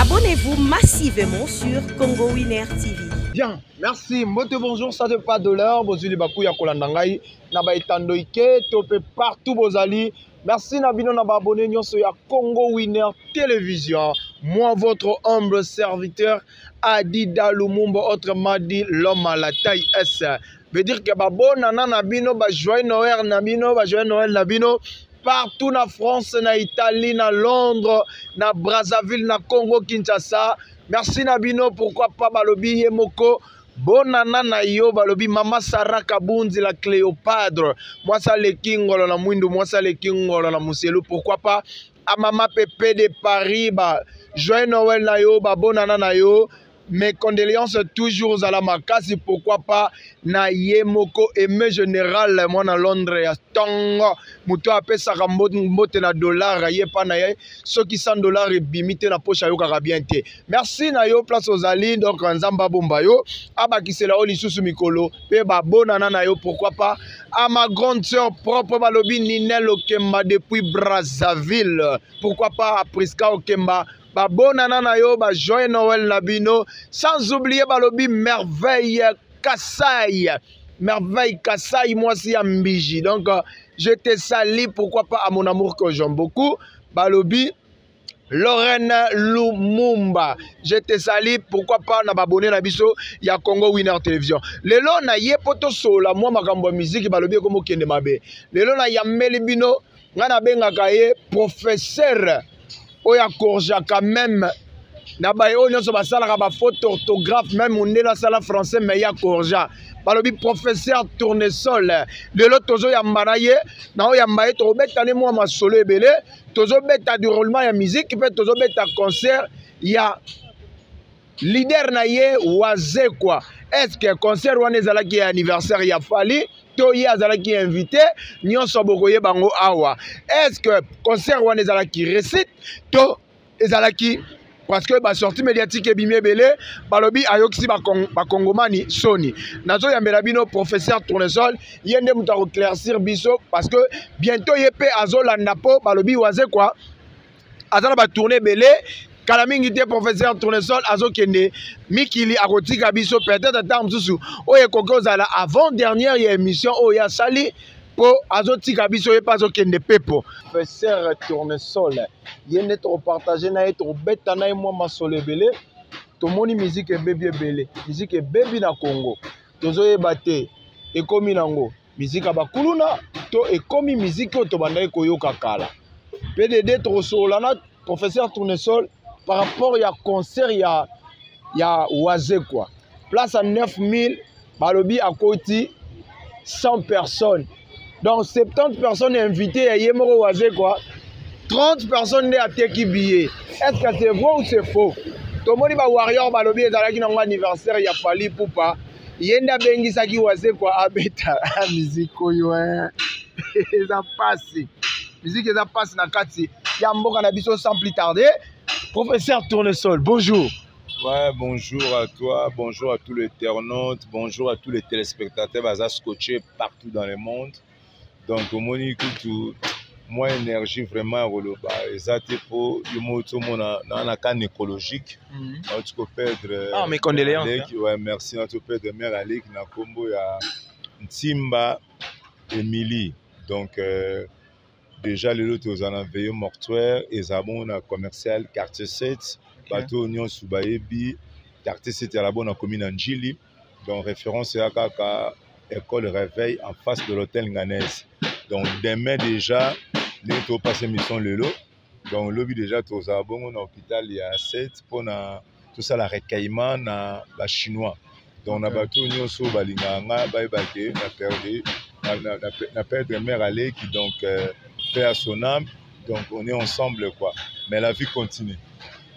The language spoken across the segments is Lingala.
Abonnez-vous massivement sur Congo Winner TV. Bien, merci. Mbote bonjour, ça de pas de l'heure. Bozuli baku ya kolanda ngai na ba etando ike to pe partout bozali. Merci na bino na ba abonné nyonso ya Congo Winner Télévision. Moi votre humble serviteur Adida Lumumba autrement dit l'homme à la taille S. veut dire que babonana na bino bajoyeux noel na bino bajoyeux noel na bino partout na france na italie na londres na brazzaville na congo kinshasa merci na bino pourquoi pas balobi ye moko bonana na yo balobi mama sara kabunzi la cléopadre mwasi aleki ngolo na mwindu mwasi aleki ngolo na moselu pourquoi pas amama pepe de paris ba joyeux noel na yo babonana na yo mes condoléances toujours à la makasi pourquoi pas na ye moko aime général mwana londres ya ntongo moto apesaka mbote na dollar ye mpa na ye soki 100 dollar ebimi te na poche ayokaka bien te merci na yo place ozali donc nzambe abomba yo abakisela yo lisusu mikolo mpe babonana na yo pourquoi pas à ma grande sœur propre balobi ninel okemba depuis brazzaville pourquoi pas à prisca okemba babonana na yo ba joyeux noël na bino sans oublier balobi merveille kasai merveille kasai mwasi ya mbiji donc euh, je te sali pourquoi pas à mon amour que j'aime beaucoup balobi Lorraine Lumumba. Je te salue, pourquoi pas na abonné na biso ya Congo Winner Television. Lelo na ye poto sola moi makambo musique balobi comme kende mabe. Lelo na yameli bino ngai nabengaka ye professeur oyo akorjaka meme na baye oyo nyonso basalaka bafaute orthographe meme mondele asala français me ye akorja balobi professeur tournesol lelo tozoyamba na ye na oyamba ye tokobeta ne mwa masolo ebele tozobeta deroulement ya musique mpe tozobeta concert ya leader na ye wazekwa eske concert wana ezalaki ya anniversaire ya fali to ye azalaki invité nyonso bokoyeba yango awa eske concert wana ezalaki récite to ezalaki parce que basortie médiatique ebimi ebele balobi ayokisi bakongomani ba soni nazoyambela bino professeur tournesol ye nde moto akoclaircir biso parce que bientôt ye mpe azolanda mpo balobi waze kua aza na batourne ebele kala mingi te professeur tournesol azokende mikili akotika biso peut-être ata mosusu oyo ekoki kozala avant dernière ya émission oyo ye asali mpo azotika biso ye mpe azokende pepo professeur tournesol ye nde tokopartage na ye tokobeta na ye mwa masolo ebele tomoni miziki ebebi ebele miziki ebebi na congo tozoyeba te ekomi nango miziki ya bakuluna to ekomi miziki oyo tobandaki koyoka kala pdd tokosolola na professeur tournesol par rapport ya concert ya, ya wazekwa place ya 9000 balobi akoti 100 personnes donc 70 personnes invité ya ye moko wazekwa 30 personnes nde ateki billet est ce que c'est vrai ou c'est faux tomoni ba warrior balobi ezalaki nango anniversaire ya fali pupa ye nde abengisaki wazekwa abeta miziki oyo eh. eza mpasi miziki eza mpasi na kati ya mboka na biso sans plus tarde professeur tournesol bonjour Ouais, bonjour à toi, bonjour à tous les internautes, bonjour à tous les téléspectateurs Baza scotchés partout dans le monde. donc omoni kutu mwa énergie vraiment ya koloba eza te mpo yo moko tomona na na kane écologique mhm. nauti koperdre ah, ouais, merci nauti koperdre mare aleki na nkombo ya ntimba émilie donc euh, déjà lelo toza na veille mortuaire eza bongo na commercial quartier 7 bato oyo nyonso bayebi quartier 7 ya labo na komi na njili donc référence ya kaka école réveil en face de l'hôtel nganaise donc demain déjà ndenge topasa émission lelo donc lobi déjà tozala bongo na hôpital ya 7 mpona tosala recueillement na bachinois donc na bato oyo nyonso balingaka nga bayeba ke na perde na perdre mare aleki donc euh, pe à son âme donc on est ensemble quoi mais la vie continue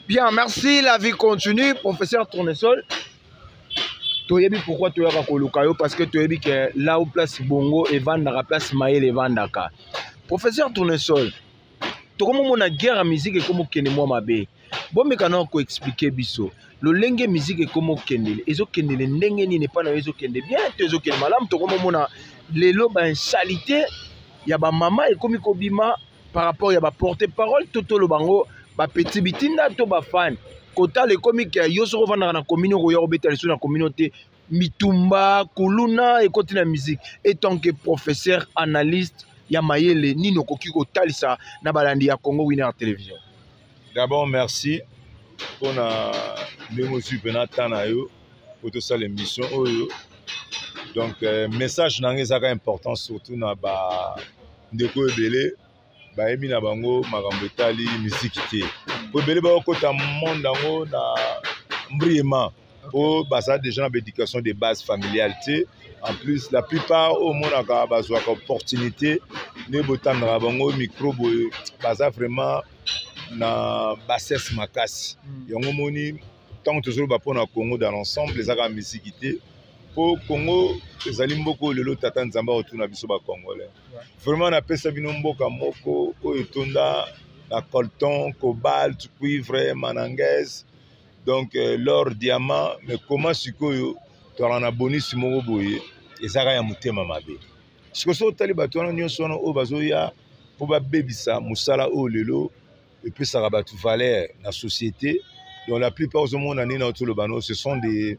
bien merci la vie continue professeur tournesol toyebi pourquoi toyaka koluka yo parce que toyebi ke là où place bongo evandaka place mayele evandaka professeur tournesol tokomomona guerre ya miziki ekomokende mwa mabe bomeka na koexplike biso lolenge miziki ekomokendele ezokendele ndenge nini epai na yo ezokende bien to ezokende malamu tokomomona lelo bainsalite ya bamama ekomi kobima par rapport ya baporte parole to toloba yango bapeti bitinda to bafani kotala ekomi ke yo soki ofandaka na komini okoya kobeta lisusu na komini te mitumba kuluna ekoti na musique etant que professeur analyste ya mayele nini okoki kotalisa na balandi ya congo winner television d'abord merci mpo na ndenge ozwi mpena temps na yo mpo tosala émission oyo donc euh, message na ngai ezaka important surtout na bandeko oyo ebele bayebi na bango makambo etali miziki te mpo ebele bakokota monde yango na mbriema oyo baza déjà na baéducation de base familiale te en plus la plupart oyo omonaka bazwaka opportunité nde botandaka bango micro boye baza vraiment na bassesse makasi hmm. yango omoni ntango tozoloba mpo na congo dans l'ensemble eza kaka miziki te mpo congo ezali mboka oyo lelo tata nzambe akotuna biso bacongolais vraiment napesa bino mboka moko oyo etonda na colton cobalt cuivre manangaise donc euh, lor diamant me koma sikoyo tozalaka na bonisi moko boye ezaka ya motema mabe sikoyo soki otali bato wana nyonso wana oyo bazoya mpo babebisa mosala oyo lelo epesaka bato valeur na société donc la plupart ozomona nini aotoloba no ce sont des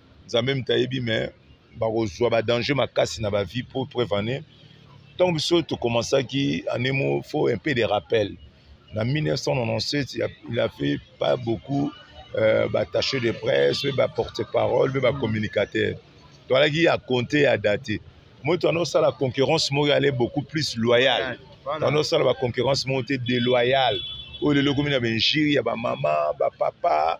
nzambe moto ayebi mais bakozwa badanger makasi na bavie mpo preuve année ntango biso tokomansaki année mo faut un peu de rappel na 1997 il a fait pas beaucoup euh, batache de presse mpe baporte parole mpe bacommunicateur toalaki ya compte ya date moto anosala concurrence moko ale beaucoup plus loyal anosala baconcurrence moko te déloyale oyo lelo ekomi na bainjure ya bamama bapapa ba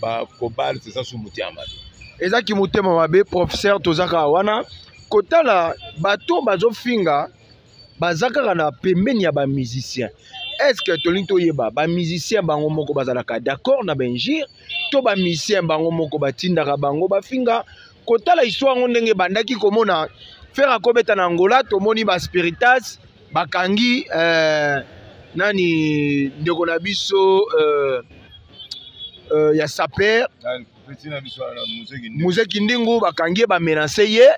ba cobalt eza su motema mabe eza kimotema mabe professeur toza kaka wana kotala bato bazofinga baza kaka na pembeni ya bamusicien estce tolingi toyeba bamusicien bango moko bazalaka d'accord na baingire to bamusicien bango moko batindaka bango bafinga kotala histoire yango ndenge ebandaki komona fere akobeta na angola tomoni baspiritas bakangi euh, nani ndeko na biso euh, euh, ya saper muze kindingu bakangi ye bamenase ye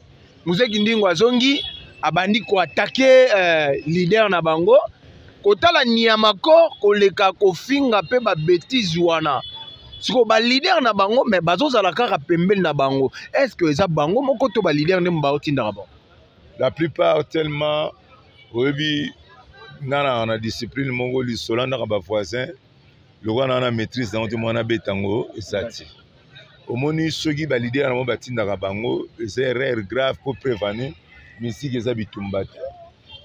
muze kindingu azongi abandi koatake euh, leader na bango kotala nyama kor koleka kofinga mpe babetize wana siko balider na bango me bazozala kaka pembeni na bango est ce que eza bango moko to balider nde baotindaka bango la plupart tellement oyebi nga na na discipline moko lisolo andaka bavoisin lokola na na maîtrise yango te mwana abeta yango eza te omoni soki balidere yango batindaka bango eza erreur grave mpo prevenir misiki eza bitumba te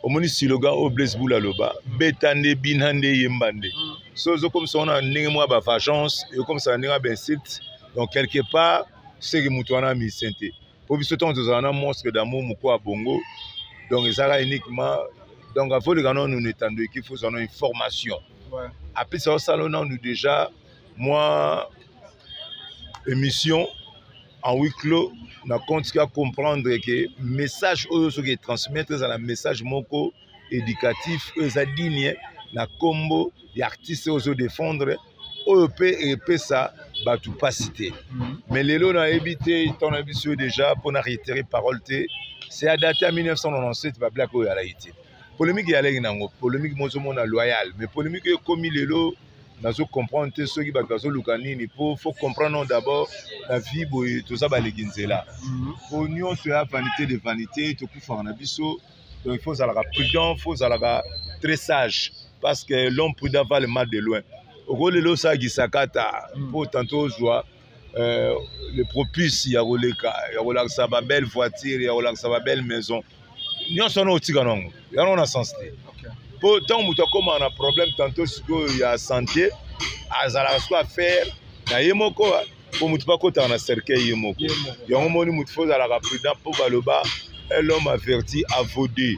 omoni siloga oyo blaise bula aloba beta nde bina nde yemba nde mm. so ozokomisa wana ndenge mwa bavagence ekomisaka ndenge ya bainsulte donc quelque part seke moto wana musicien te mpo biso ntango tozala na monstre d'amour moko ya bongo donc ezalaka uniquement donc afoleka nanu na etando ekifi ozwa na information apesa osala nanu déjà mwa émission en huis clos na compte ka comprendre que message oyo soki etransmettre ezala message moko éducatif oyo eza digne na nkombo ya artiste oyo ozodefendre oyo mpe epesa bato mpasi te mhm. mais lelo nayebi te ntango na biso oyo déjà mpo na réitere parole te c'est adate ya 1997 bablake oyo alaki te polémique eyalaki nango polémique mozomona loyal mais polémique oyo ekomi lelo nazo comprendre te soki bato bazoluka nini po faut comprendre non d'abord na vie boye toza baleki nzela mhm. po nyonso ya vanité de vanité tokufaka na biso donc il faut ozalaka prudent faut ozalaka très sage parce que l'homme prudent va le mal de loin okolelo osala gisakata po mhm. tanto ozwa euh, le propice ya koleka ya kolakisa ba belle voiture ya kolakisa ba belle maison nyonso wana otika nango yango na sens te mpo ntango moto akóma na problème tanto sikoyo ya santé azalaka sikoyo affaire na ye moko mpo moto mpe akotaka na cercueil ye moko yango moni moto fo ozalaka prudent mpo baloba l'homme averti avode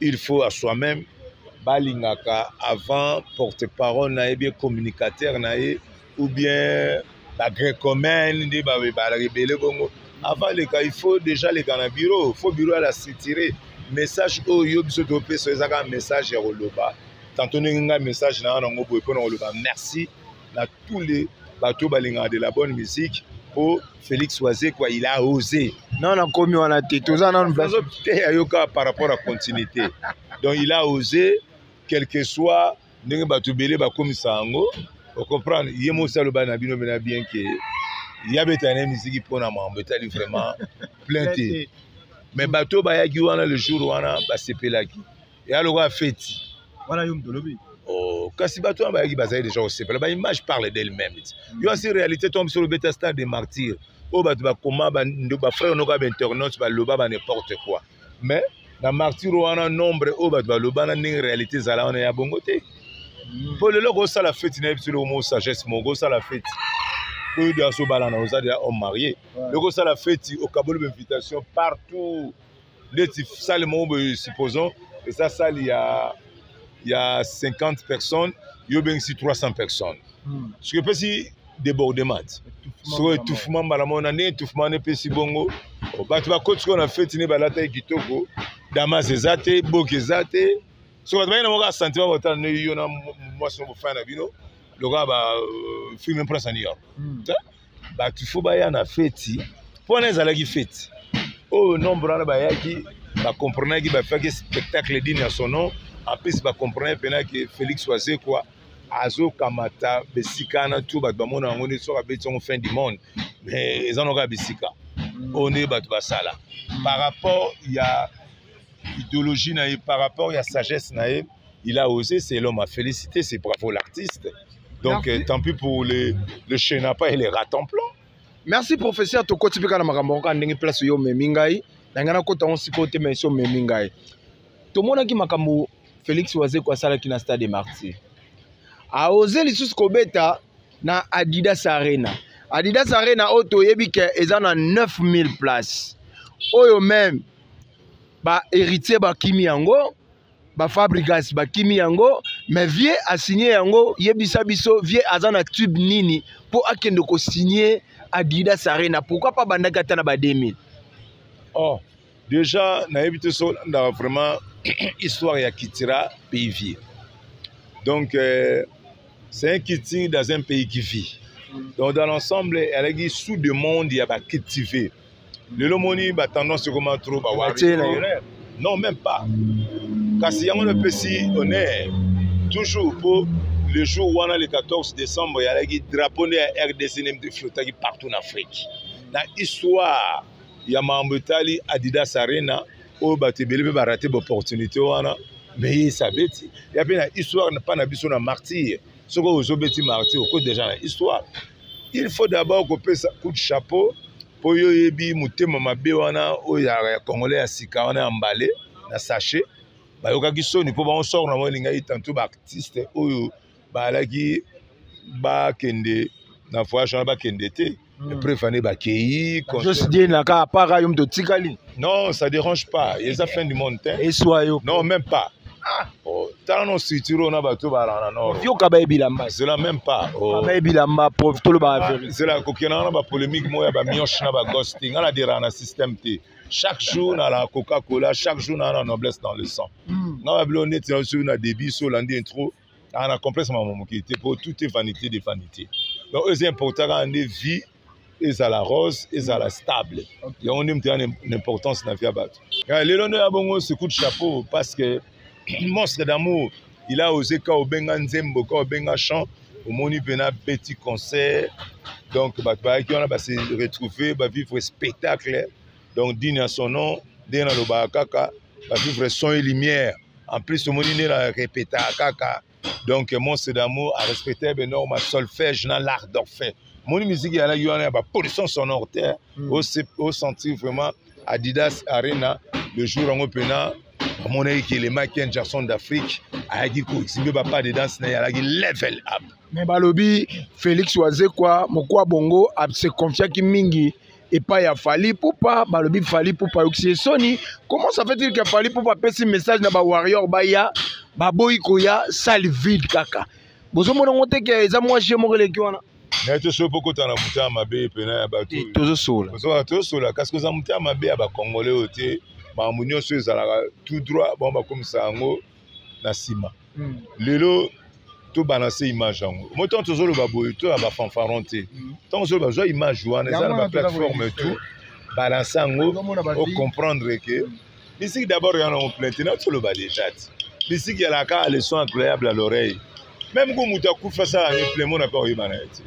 il faut à soi même balingaka avant porte parole na ye bien communicateur na ye ou bien bagrecomene nde barebele bongo avant leka il faut déjà leka na bureau faut bureau ya la sitire message oyo yo biso topesa ezaka message ya koloba tanto ndenge ngai message na yo nango boye mpona koloba merci na tous les bato balingaka de la bonne musique mpo félix wazekwa il a osé non nakomi wana te toza nanu azoteya yo kaka par rapport à continuité donc il a osé quelque soit ndenge bato ebele bakomisa yango ocomprendre ye mosi aloba na bino bena bien ke ya betana ye miziki mpo na mambo etali vraiment plein te mais bato bayaki wana le jour wana basepelaki ya lokola feti wana yo moto olobi Oh, kasi bato wana bayaki bazali deja kosepela baimage parle d'elle-même mm. yo asi réalité to biso lobeta stade de martyr oyo bato bakoma bafrère noko ya bainternaute baloba ba n'importe quoi mais na martyr wana nombre oyo bato baloba na ndenge réalité ezala wana ya bongo te mpo mm. lelo kosala feti na ye biso loko mo sagesse moko kosala feti oyo de asobalana oza deja homme marié loko osala feti okaboli bainvitation partout ndeti sale moko boye supposons eza sale ya ya 50 personnes yo obengisi 300 personnes hmm. soki epesi débordement ti soko etouffement mbala moko na nde etouffement na epesi bongo oh, bato bakoti sikoyo na feti nde balataki kitoko damas eza te boki eza te so bato bayina moko asentiment botala nde yo na mwasi moko bofana na bino lokola ba euh, film imprince ya new york hmm. bato fo baya na feti mpo wana ezalaki feti oyo oh, nombre wana bayaki bacomprenaki bafaki spectacle dine ya son nom en plus bacomprenaki mpena ke félix wazekwa azokamata bisika wana tu bato bamona yango nde soki abeti yango fin du monde mais eza na kaka bisika oyo nde bato basala par rapport ya idéologie na ye par rapport ya sagesse na ye il a osé c'est l'homme à féliciter c'est bravo l'artiste donc euh, tant pis pour le, le chenapa et les ratons plans merci professeur tokoti mpe kaka na makambo yango kaka ndenge place yo omemi ngai na ngai nakota yango sikoyo te mais esi omemi ngai tomonaki makambo félix wazeko asalaki na stade de martyr aoze lisusu kobeta na adidas arena adidas arena oyo toyebi ke eza na 9000 place oyo meme ba héritier bakimi yango ba fabrigas bakimi yango mais vieux asigne yango yebisa biso vieux aza na tube nini mpo akende kosigne adidas arena pourquoi pas bandaki ata na ba 2000 oh déjà nayebi te so olandaka vraiment histoire ya kitira pays vieux donc euh, c'est un kiti dans un pays qui vit donc dans l'ensemble alaki sous demande ya bacultive lelo moni ba tendance ekoma trop ba wari non même pas kasi yango napesi honneur toujours mpo le jour wana le 14 décembre eyalaki drapeau nde ya rdc nde mpe flotaki partout na afrique na histoire ya makambo etali adidas arena oyo bato ebele mpe barate baopportunité wana meye esabeti ya mpe na histoire mpa na biso na martyre soki ozobeti marti oko deja na histoire il faut d'abord kopesa coup de chapeau mpo yo oyebi motema mabe wana oyo ya congolais ya sika wana ya mbale na sachet bayokaki soni mpo bango sor na bango elingaki tantu baartiste oyo balaki bakende na voyage wana bakende te Hmm. Epreuve année ba keyi. Juste dit na ka para yo mtotikali. Non, ça dérange pas. Eza fin du monde. Hein. Et soit yo. Non, même pas. Ah. Oh, tala no structure oyo na bato balana nord yoka baye bilamba zela même pas oh. baye bilamba prof tolobaka ah, verité zela kokendaka na bapolémique moko ya bamioche na bagosse te ngai naderaka na système te chaque jour na la coca cola chaque jour na la noblesse dans le sang hmm. ngai babilo neti na soki na débit so olandi intro aa na complexe mama moke te mpo tout est vanité de vanité donc oyo eza important kaka nde vie ezala rose ezala stable yango nde moto ya na importance na vie ya bato lelo nde ya bongo secout chapeau parce que monstre d'amour il a osé ka obenga nzembo ka obenga chant omoni mpena petit concert donc bato bayaki wana base retrouve bavivre spectacle donc dini ya son nom ndenge nalobaka kaka bavivre son et lumière en plus omoni nde na repetaka kaka donc monstre d'amour a respecter benorme solfège na l'art d'orphée moni miziki yalaki wana ya bapollution sonore te hmm. osentir vraiment adidas arena le jour yango mpena amonaki kelema ken jackson d'afrique ayaki koexhibe bapa de danse na ye alaki level up me balobi félix wazekwa mokwa bongo asekonfiaki mingi epai ya Fally Ipupa balobi Fally Ipupa ayokisi ye soni comment ça fait il que Fally Ipupa apesi message na ba warrior baya baboyi koya salle vide kaka bozomona ngo te ke eza mwa jeu moko eleki wana naye tosoki mpo kota na motema mabe mpena ya bato eh, tozosola tozosola kasi koza motema mabe ya bakongole oyo te makambo nyonso ezalaka tout droit bango bakomisa yango na nsima mm. lelo tobalanse image yango moi ntango tozoloba boye to ya bafanfaron te ntango mm. ozoloba zwa image wana eza na baplateforme tout balanse yango ocomprendre ke mm. misiki d'abord yana yango plainte na toloba déjà ti misiki yalaka leçon incroyable à l'oreille meme ko moto akufi asala replemo na mpe oyeba na ye te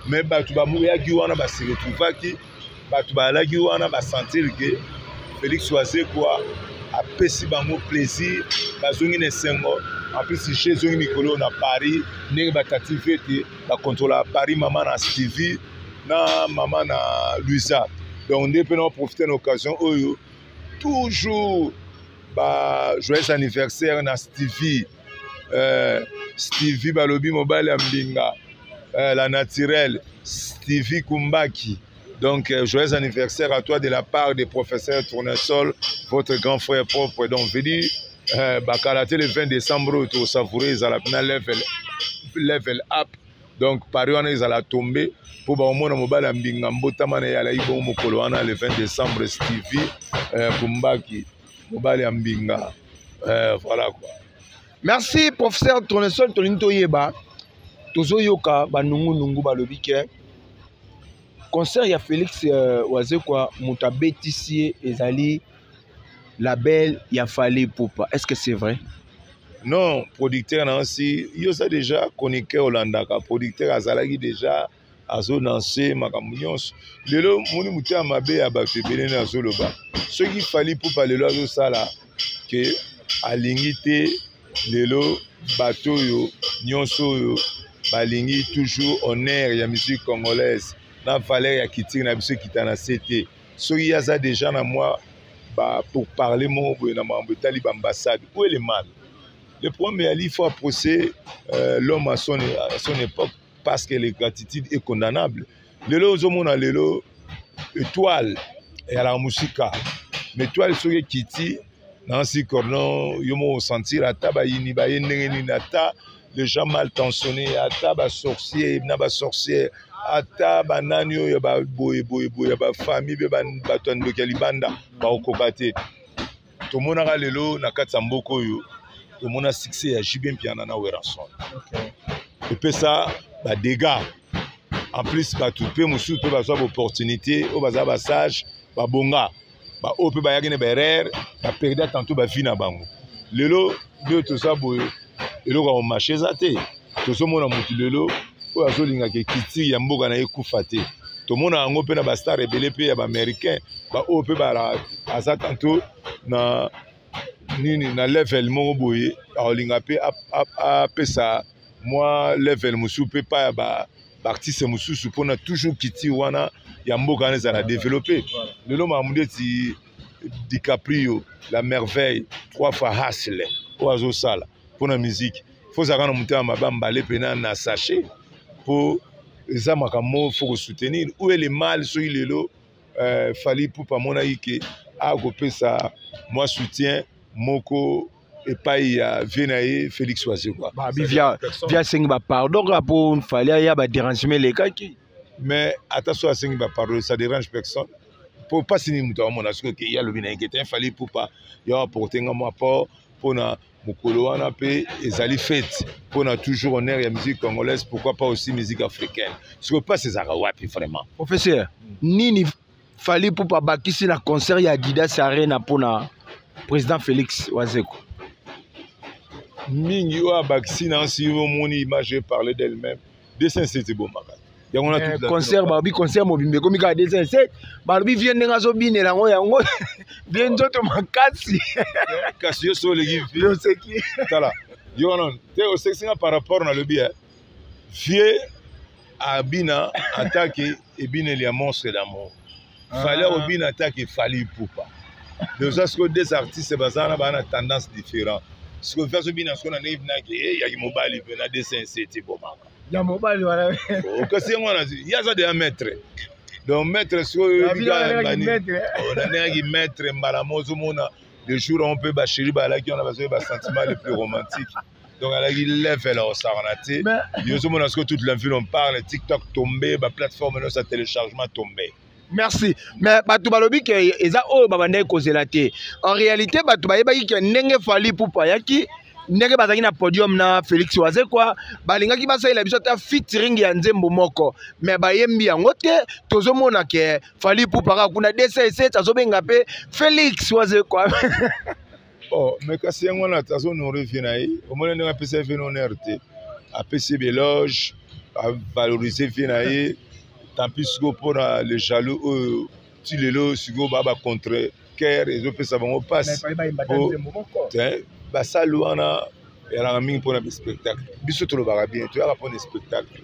mais bato bamoyaki wana baseretrouvaki bato bayalaki wana basentir ke félix wazekwa apesi bango plaisir bazongi na esengo en plus je ezongi mikolo na paris ndenge batative ete bakontrolaka paris mama na stevie na mama na luisa donc nde mpe na baprofite na occasion oyo toujours ba joyeux anniversaire na stevie eh, stevie balobi mobali ya mbinga eh, la naturelle stevie kumbaki Donc, euh, joyeux anniversaire à toi de la part des professeurs Tournesol, votre grand frère propre. Donc, venu euh, Bakalate le 20 décembre, tu savouré, ils allaient la level, level up. Donc, par wana ils allaient tomber pour ba omona mobala mbinga mbotama na yala ibo mokolo wana le 20 décembre Stevie euh, Kumbaki. mobali ya mbinga eh, voilà quoi merci professeur tournesol tolingi toyeba tozoyoka banungunungu balobi ke concert ya félix euh, wazekwa moto abetisi ye ezali label ya fali pupa est ce que c'est vrai non producteur na osi yo oza déjà chroniqueur olandaka producteur azalaki déjà azo lanse makambo nyonso lelo moni moto ya mabe ya bato ebele nde azoloba soki fali pupa lelo azosala ke alingi te lelo bato oyo nyonso oyo balingi toujours honneur ya musique congolaise na valeur ya kitire na biso ekita na se te soki ye aza deja na mwa ba pour parler moko boye na makambo etali baambassade où est le mal le problème ya lifa procès euh, l'homme à son, à son époque parce que le gratitude est condamnable lelo ozomona lelo étoile eyalaka mosika mais étoile soki ekiti nansi cornon yo moko osentir ata bayini baye ndenge nini ata les gens mal tensionnés ata basorcier na basorcière ata banani oyo ya baboyeboyeboye ya bafamille mpe bato ya ndoki ya libanda bakokoka te tomonaka lelo na kati ya mboka oyo tomona succès ya JB Mpiana na Werrason okay. epesa ba dégâts en plus bato mpe mosusu mpe bazwa baopportunité oyo baza basage babonga baoyo mpe bayaki na baerreur baperda tanto bavie na bango lelo nde toza boye eloko ya komashe eza te tozomona motu lelo oyo azolingaka ekiti ya mboka na ye kufa te tomona yango mpe na bastar ebele mpe ya baaméricain baoyo mpe aza tanto na nini na level moko boye akolinga mpe apesa mwa level mosusu mpe epai ya baartiste ba mosusu mpona toujours culture wana ya mboka wana ezala developpe lelo makambo ndeti dicaprio la merveille trois fois hasle oyo azosala mpo na miziki fo ozalaka na motema mabe mbale mpena na sachet mpo eza makambo fo kosoutenir ou ele mal soki lelo euh, fali pupa amonaki ke akopesa mwa soutien moko epai ya vie na ye félix wazekwa bia asengi bapardon kaka mpo fali aya badérangement elekaki mais ata soki asengi ba pardon ça dérange personne mpo mpasi nini moto akomona soki oke ye alobi na ye kete fali pupa yo aporte nga mwa port mpona mokolo wana mpe ezali fete mpona toujours honneur ya musique congolaise pourquoi pas aussi musique africaine soki mpasi ezalaka wapi vraiment professeur nini fali pupa abakisi na concert ya adidas arena mpona président félix wazeko mingi oyo abakisi na nsi omoni image eparle d'elle-même 207 ebomaka yango na eh, concert balobi concert mobimba ekomi kaka 207 balobi vie ndenge azobinela yango yango vie nzoto makasi kasi yo so oleki vie oseki tala yo wana te osekisi nga par rapport nalobi eh. vie abina atake ebineli ya monstre d'amour fali akobina ah. atake fali ipupa deja sikoyo deux artistes baza wana baa na tendance différent sikoyo vi azobina sikoyo na ndenge binake eh, yaki mobali mpe na dcnc ti bomaka ya mobali wana oh, okasi yango wana ye aza deya maître donc maître sikoyo na ndengaki maître mbala mo ozomona le jour on mpe basheri balaki wana bazoki basentiment le plus romantique donc alaki level akosakana te yo ozomona sikoyo toute la ville on parle tiktok tombe baplateforme nyonso ya téléchargement tombe merci mais bato balobi ke eza oyo babandaki kozela te en réalité bato bayebaki ke ndenge fali pupu ayaki ndenge bazalaki na podium na félix wazekwa balingaki basalela biso ata fitring ya nzembo moko me bayembi yango te tozomona ke fali pupa kaka kuna dss azobenga mpe félix wazekwa oh mais kasi yango wana azo nourrir vie na ye omoni ndenge apesi ye vie na honneur te apesi ye beloge avaloriser vie na ye tampi sikoyo mpona le jaloux oyo ti lelo sikoyo baa bacontre care ezopesa bango mpasi basali wana eyalaka mingi mpona bespectacle biso tolobaka bien toyaka mpona espectacle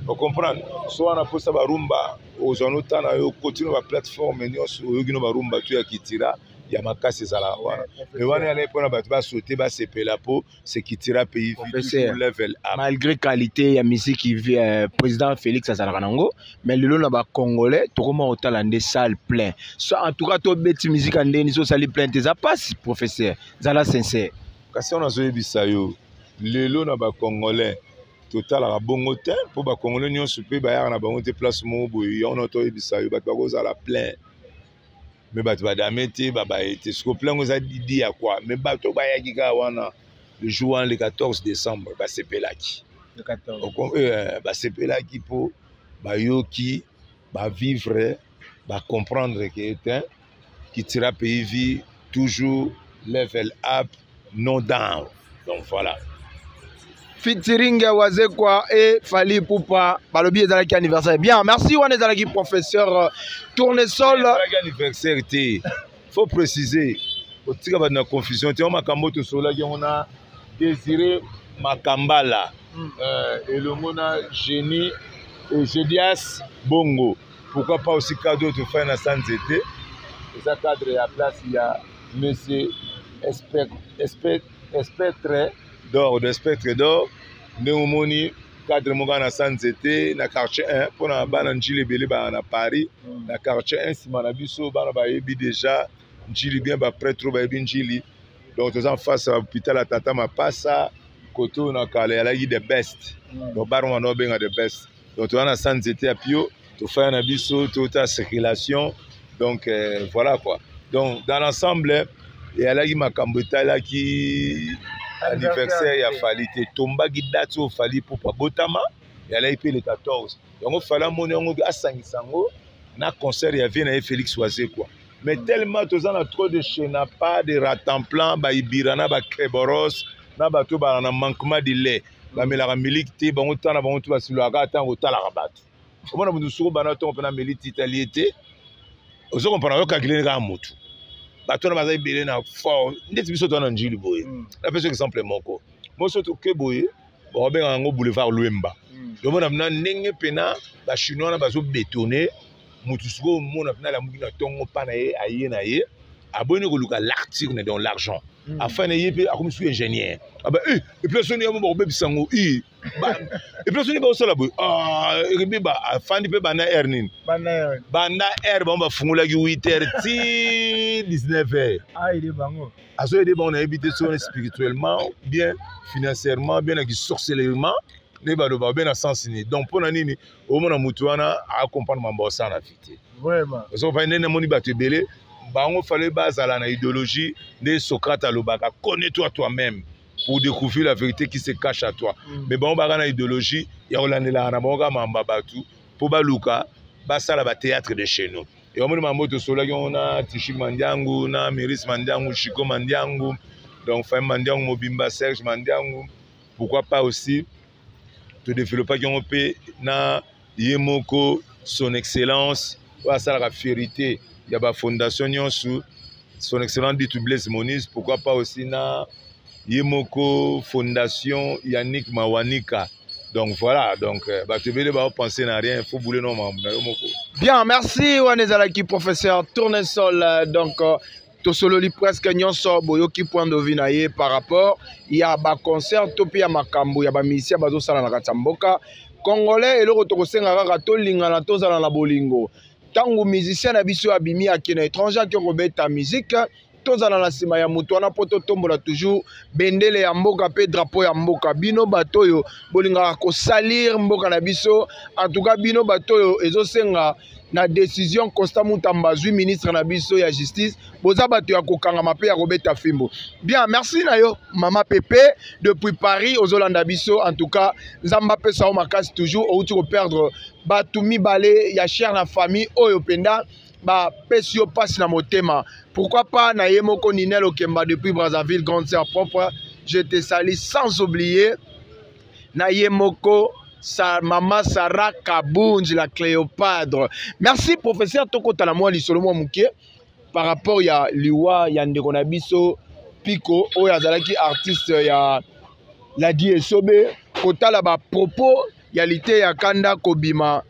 ocomprendre so wana mposa barumba ozwa no temps na yo kotino baplateforme nyonso oyoki no barumba to ya kitira ya makasi ezalaka wana me wana yana mpona bato basote basepela mpo sekitira pays level malgré qualité ya miziki euh, président félix azalaka nango mais lelo na bacongolais tokoma kotala nde salle plein so en tout cas tobeti miziki ya ndeni sosali plein te eza mpasi professeur zala sincère kasi wana azoyebisa yo lelo na bacongolais totalaka bongo te mpo bacongolais nyonso mpe bayaka na bango te place moko boye yango na toyebisa yo bato bakozala plein me bato badame te babaye te siko plan yango eza didi ya kwa me bato bayaki kaka wana le jour wana le 14 décembre basepelaki euh, basepelaki mpo bayoki bavivre bacomprendre ke etin kitira pays vie toujours level up no down donc voilà featuring ya wazekwa e fali pupa balobi ezalaki anniversaire bien merci wana ezalaki professeur euh, tournesol anniversaire te faut préciser otika bato na confusion te yango makambo tosolaki yango na désiré makambala hmm. euh, elongo na génie ejedias bongo pourquoi pas aussi cadre tofai na sanze te eza cadre ya place ya monsieur espectre d'or de espectre d'or ndenge omoni cadre moko na sa nzete na quartier 1 mpo na bana njili ebele baa na paris mm. na quartier 1 nsima na biso bana bayebi déjà njili bien bapretre bayebi njili donc toza en face ya hôpital ya tata mapasa kote oyo na kala yalaki the best mm. donc baroma na obenga the best donc toza na sa nzete ya pio tofaya na biso tota circulation donc euh, voilà quoi donc dans l'ensemble eyalaki makambo etalaki anniversaire ya fali te tombaki date oyo fali pupa botama eyalaki mpe le 14 yango fali amoni yango asangisa yango na concert ya vie na ye félix wazekwa mais mm. tellement toza na trop de chenapa de ratanplan baibira na bakeboros na bato bana na manquement de lait bamelaka miliki te bango ntan na bango tu basilolaka ata kotalaka bato omona moto mosuku bana ntongo mpena meli titali ye te ozo kompana yo kalkile kaka motu bato wana baza ebele na fort ndeti biso toa na njili boye mm. napesi exemple moko moso toke boye bakobengaka yango boulevard lwemba mm. omona mna ndenge mpena bachinois wana bazobetone moto sikoyo omona mpe nalamuki na ntongo mpa na ye aye na ye aboni koluka l'article na donc l'argent hmm. afin na ye mpe akomi soki ingénieur aba ah eh, eplasi soni yamo bakobebisa yango i eplasi soni bakosala boye ah, ebeba afandi mpe banda aire nini banda aire bango bafungolaki 8 heure ti 19 heure azoyede bango nayebi te soni spirituellement bien financièrement bien na kisorcelelement nde baloba babe na sens nini donc mpo na nini omona mutu wana acomprendre mambo asala na fite osokopai nde namoni bato ebele bango fale bazala na idéologie nde socrate alobaka connais toi toi même pour découvrir la vérité qui se cache à toi mm. mais bango baka na idéologie ya kolandelaka na bango kaka mamba bato mpo baluka basala batéâtre de chez nous e omoni mambo tosolaki yango na tishi mandiangu na miris mandiangu chico mandiangu donc fami mandiangu mobimba serge mandiangu pourquoi pas aussi todevelopaki yango mpe na ye moko son excellence oyo asalaka fierité ya bafondation nyonso son excellence ditu blaise monis pourquoi pas aussi na ye moko fondation yannick mawanika donc voilà donc euh, bato ebele baopense na rien faut boule no mambo na yo moko bien merci wana ezalaki professeur tournesol euh, donc euh, tosololi presque nyonso boyoki point de vue na ye par rapport ya baconcert to mpe ya makambo ya bamisien bazosala na kati ya mboka congolais eloko tokosenga kaka tolingana tozala na bolingo ntango musicien na biso abimi ake na étranger ake kobeta mizike tozala na nsima ya moto wana mpo totombola toujours bendele ya mboka mpe drapo ya mboka bino bato oyo bolingaka kosalir mboka na biso antuka bino bato oyo ezosenga na decision costa mutamba azwi ministre na biso ya justice boza bato ya kokangama mpe ya kobeta fimbo bien merci na yo mama pepe depuis paris ozolanda biso en tout cas nzambe apesa yo makasi toujours outi koperdre bato mibale ya chere na famille oyo mpenza bapesi yo mpasi na motema pourquoi pas na ye moko ninel okemba depuis brazzaville grande sœur propre je te sali sans oublier na ye moko sa, mama sara kabunzi la cléopatre merci professeur tokotala mwa lisolo mwa moke par rapport ya liwa ya ndeko na biso piko oyo azalaki artiste ya ladi esobe kotala bapropos ya liteya kanda kobima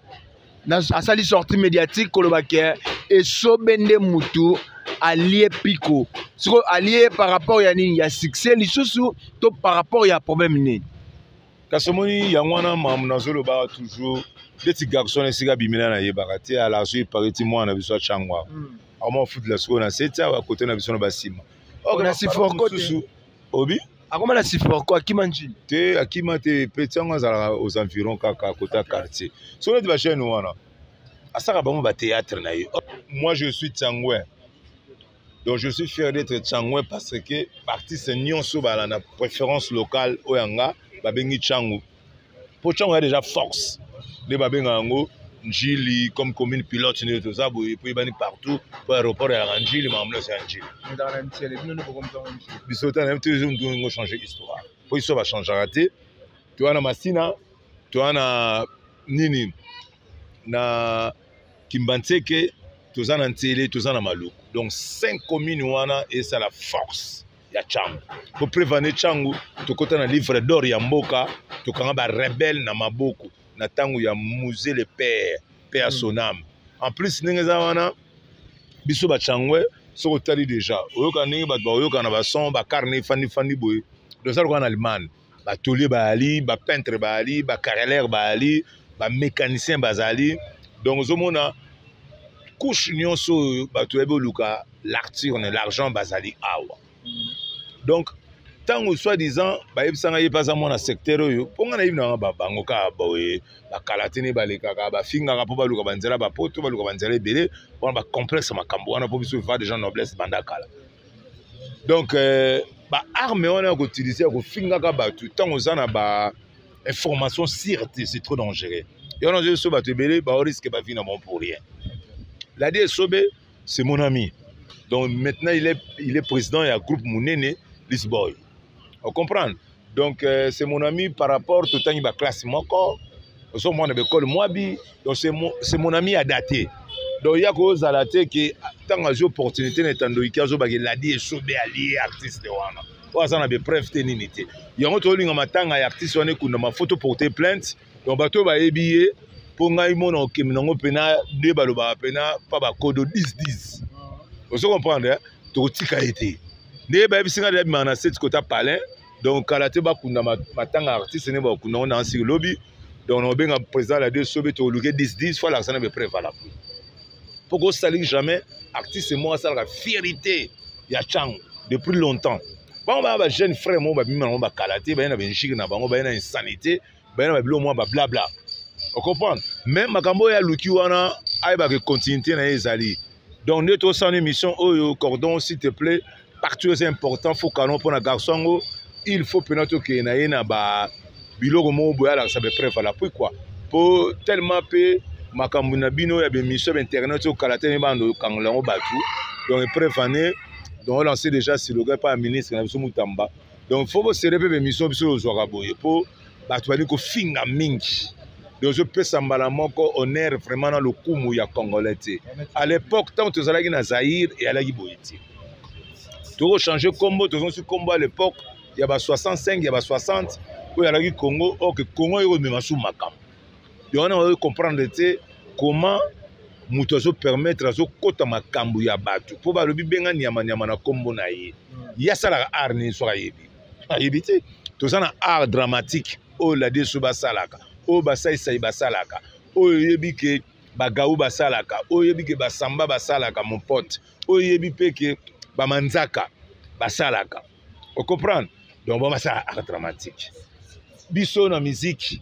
asali sortie médiatique koloba ke esobe nde mutu alie piko sikoyo alie par rapport ya nini ya succès lisusu to par rapport ya problème nini kasi omoni yango wana mamu nazolobaka toujours ndeti garçon esika bimela nayebaka te ala azo epare ti mwana na biso atyangwaka hmm. akomafutela sikoyo na seti awa kote na biso na basima oknasiforkosusu obi akoma na siforco akima njini te akima te peti yango azalaka aux environs kaka kota quartier so neti bachaine wana asaka bango batéâtre na ye moi je suis tianguin donc je suis fier d'être tianguin parce que baartiste nyonso bala na préférence locale oyo yanga babengi tiangu mpo ntango ya déjà force nde babenga yango njili comme commune pilote nde toza boye mpo eyebani partout mpo aéroport yalaka njili makambo nyonso ya njili biso ta nayebi tozo ndungo changer histoire mpo biso bachangaka te toya na masina toya na nini na kimbanseke toza na nsele toza na maluku donc cinq commune wana esala force ya changu po preuve ane changu tokota na livre d'or ya mboka tokanga ba rebelle na maboko na tango ya musée le père pe ya son âme en plus ndenge eza wana biso ba changwe soki otali deja oyokana ndenge bato baoyokana bason bacarne efandi fandi boye dozalaka na allemagne ba tolier ba ali ba peintre ba ali ba carreleur ba ali ba mécanicien ba zali donc ozomona couche nyonso oyo bato yabi oluka l'arture ne l'argent bazali awa donc ntango soit disant bayebisa ngai ye mpe aza mwana secteur oyo mpo ngai nayebi nanga bango kaka boye bakalatini balekaka bafingaka mpo baluka banzela bapoto baluka banzela ebele wana bacomplexe makambo wana mpo biso va dejà noblesse banda kala donc euh, ba arme wana ya koutilize ya kofingaka bato ntango oza na ba information sire te c'est trop dangereux yo wana ozoyeso bato ebele baoriske bavi na bango pour rien ladi esobe c'est mon ami donc maintenant il est, il est président ya groupe monene lisboy ocomprendre donc euh, c'est mon ami par rapport totangi baklasse moko ozo mwana bekole mwabi donc c'est mon ami ya date donc ya kozala te ke ntango azwi opportunité na etandoiki azobaka eladi esobe alie artiste wana oyo aza na bepreuve te nini te yango tozolinga matanga ya artiste wana ekundama foto porte plainte donc bato oyo bayebi ye mpo ngai mona okemi nango mpena nde balobaka mpena mpa bakodo 10 ozo comprendre eh? tokotika ye te nde bayebisi ngai abimaka na seti kota palin donc kala te bakunda matanga artiste nde bakunda ngo na nsiki lobi donc nakobenga président la de sobe tokoluke 10 10 fo alakisa na bepreuve valable mpo kosaliki jamais artiste moko asalaka fierité ya chango depuis longtemps bango baya bajeune frère moko babimi na bango bakala te baye na benjike na bango baye na insanité baye na babilo mwa bablabla ocomprendre mais makambo oyo aluki wana ayebaka continuité na ye ezali donc nde tosana émission oyo cordon s'il te plaît partout eza important fo canon mpo na garçon yango il faut mpena tokende na ye na ba biloko moko boye alakisa bepreuve ala pui kua mpo tellement mpe makambo na bino ya bemission ya bainternet oyo kala tene bando okangola yango bato donc epreuve ane donc olanse déjà siloga epai ya ministre na biso mutamba donc fo bosere mpe bemission biso ozwaka boye mpo bato bali kofinga mingi donc ozopesa mbala moko honneur vraiment na lokumu ya congolais te à l'époque ntango tozalaki na zaire eyalaki boye te tokochange nkombo tozongisi nkombo à l'époque ya ba 65 ya ba 60 oyo alaki congo oke congo eko emema su makambo yango na bazoki comprendre te comment moto azopermettre azokɔta makambo ya bato mpo balobi benga nyamanyama na nkombo na ye ye asalaka art nini soki ayebi ayebi te toza na art dramatique oyo ladeso basalaka oyo basaisai basalaka oyo oyebi ke bagau basalaka oyo oyebi ke basamba basalaka mon pote oyo oyebi mpe ke bamanzaka basalaka ocomprendre donc bango basala art dramatique biso na miziki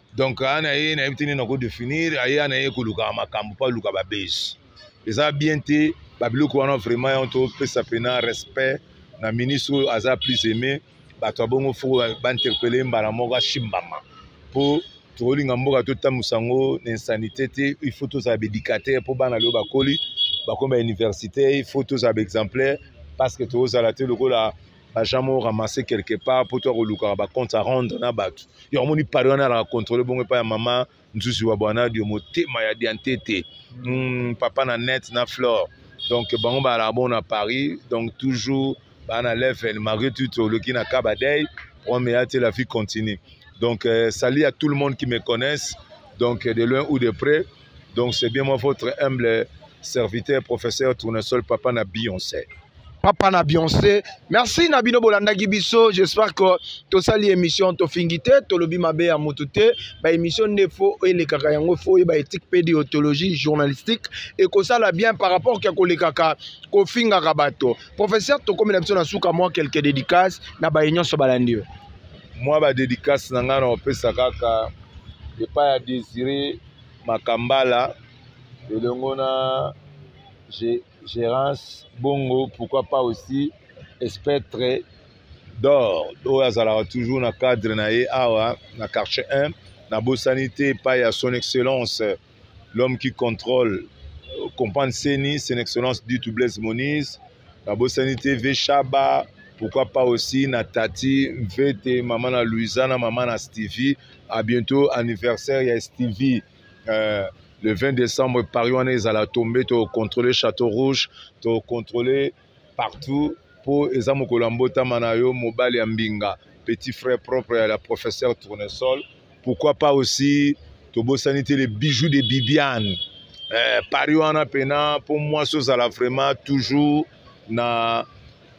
donc aa na ye nayebi te nini nako définir aya na ye kolukaka makambo mpo aluka babezi eza bien te babiloko wana vraiment yango topesa mpena respect na ministre oyo aza plus aimé bato ya bongo foko bainterpele mbala moko asimbama mpo tokolinga mboka totambusa yango na insanité te il faut tozala baéducateur mpo bana leo bakoli bakomi bauniversité il faut tozala baexemplaire parce que tozala te lokola baja moko ramasse quelque part mpo to ya kolukaka bacompte a rendre na bato yango moni pari wana alaka contrôle bongo epai ya mama nzuzi wa bwanadio motema ya diantete mm, papa na net na flore donc bango balaka bongo na paris donc toujours baa na level malgré tout oloki na kabadei problème eya te la vie continue donc euh, salut à tout le monde qui me connaissent donc de loin ou de près Donc c'est bien moi votre humble serviteur professeur Tournesol papa na Beyoncé. papa na bionce merci na bino bolandaki biso j'espère que tosali émission tofingi te tolobi mabe ya motu te baémission nde fo elekaka yango fo oyeba éthique mpe deontologie journalistique ekosala bien par rapport ya kolekaka kofingaka bato professeur tokomi na biso na suka mwa quelque dédicace na baye nyonso balandi yo mwa badédicace na ngai na opesa kaka epai ya désiré makambala elongo na gérance bongo pourquoi pas aussi espectre d'or oyo azalaka toujours na cadre na ye awa na quartier 1 nabosani te epai ya son excellence l'homme qui contrôle euh, comprendre seni son excellence dit blaise monise nabosani te ve shaba pourquoi pas aussi na tati mvete mama na louisa na mama na stevie à bientôt anniversaire ya stevie euh, le 20 décembre paris wana ezala tombe tocontrôle château rouge tocontrôle partout mpo eza mokolo ya mbotama na yo mobali ya mbinga petit frère propre ya la professeur tournesol pourquoi pas aussi tobosani te le bijou de bibiane eh, paris wana mpena mpo mwasi ozala vraiment toujours na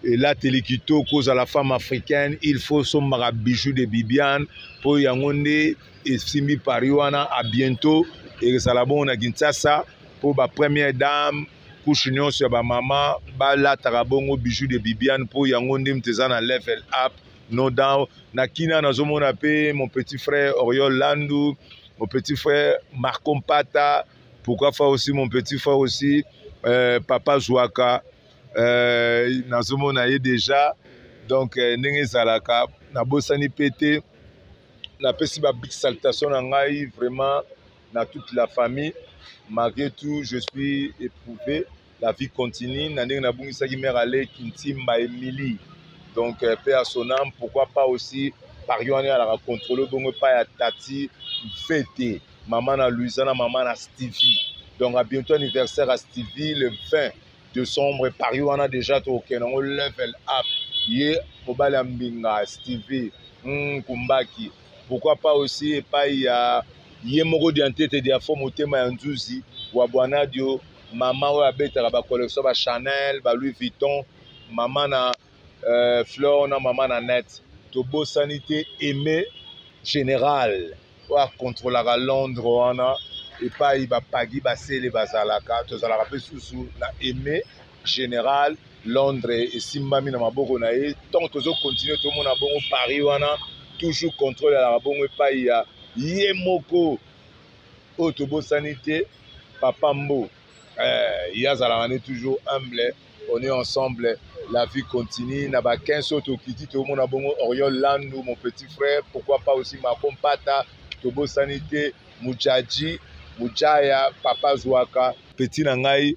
elateli kitoko ozala femme africaine il faut sombaka bijou de bibiane mpo yango nde esimbi paris wana a bientôt ekozala bongo na kinshasa mpo ba première dame couche nyonso ya bamama balataka bongo bijou de bibiane mpo yango nde moto eza na level up no down na kina nazomona mpe mon petit frère oriol landu mon petit frère marco mpata pourquoi fa aussi mon petit frère aussi euh, papa zwaka euh, nazomona ye déjà donc euh, ndenge ezalaka nabosani mpe te napesi ba big salutation na ngai vraiment na toute la famille malgré tout je suis éprouvé la vie continue na ndenge nabungisaki mère aleki ntimba emili donc euh, pe ya sonam pourquoi pas aussi pari wana alaka contrôle bongo epai ya tati mfete mama na luisa na mama na stevie donc a bientôt anniversaire ya stevie le 20 décembre pari wana déjà tokokende yango level up ye mobali ya mbinga stevie mm, kumbaki pourquoi pas aussi epai ya ye moko diantete diafo motema ya nzuzi wa bwanadio maman oyo abetaka ba collection ba Chanel ba Louis Vuitton maman na euh, Flore na maman na net tobosani te aime général oyo akontrolaka Londres wana epai bapagi basele bazalaka tozalaka mpe susu na aime général londres esimbami na maboko na ye ntango tozokontinue tomona bongo paris wana toujours contrôle alaka bongo epai ya ye moko oyo tobosani te Papa Mbo, eh, ye azalaka ne toujours humble, on est ensemble, la vie continue. Na ba 15 oyo tokiti tomona bongo Oriol Landu, mon petit frère, pourquoi pas aussi Marco Mpata, tobosani te Mujaji, Mujaya, Papa Zwaka, petit na ngai